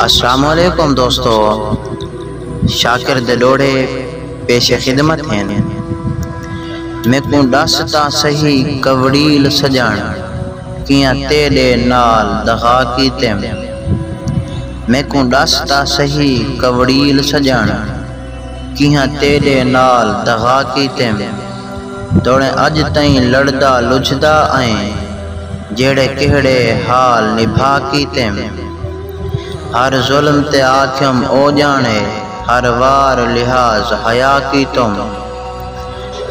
السلام علیکم دوستو شاکر دے ڈوڑے پیش خدمت ہن میکوں ڈس تاں سہی کوڑیل سجن کیاں تیڈے نال دغا کیتم میکوں ڈس تاں سہی کوڑیل سجن کیاں تیڈے نال دغا کیتم۔ توڑیں اڄ تئیں لڑدا لجھدا آئیں جیڑھے کیہڑے حال نبھا کیتیم ہر ظلم تے آکھیم او ڄاݨے ہر وار لحاظ حیا کیتم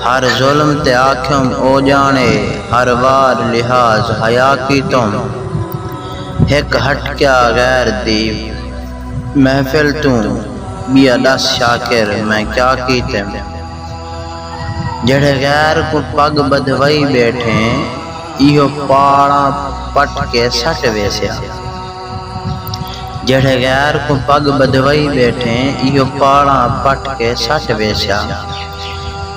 ہر ظلم تے آکھیم او ڄاݨے ہر وار لحاظ حیا کیتم ہک ہٹکیا غیر دی محفل توں ٻیا ݙس شاکر میں کیا کیتیم۔ جیہڑے غیر کوں پڳ ٻدھوائی ٻیٹھیں ایہو پاڑاں پٹ کے سٹ ویسیا جیہڑے غیر کوں پڳ ٻدھوائی ٻیٹھیں ایہو پاڑاں پٹ کے سٹ ویسیا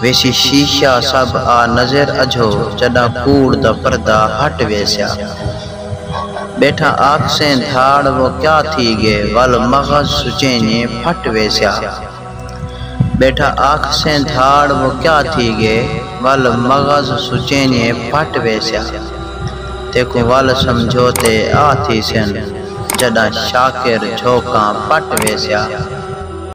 ویسی شیشہ سب آ نظر اجھو جݙاں کوڑ دا پردہ ہٹ ویسیا ٻیٹھا آکھسیں دھاڑ وہ کیا تھی ڳئے ول مغز سچینجھیں پھٹ ویسیا۔ ٻیٹھا آکھسیں دھاڑ و کیا تھی ڳے ول مغز سچینیے پھٹ ویسیا تیکوں ول سمجھوتے آ تھیسن جݙاں شاکر جھوکاں پٹ ویسیا۔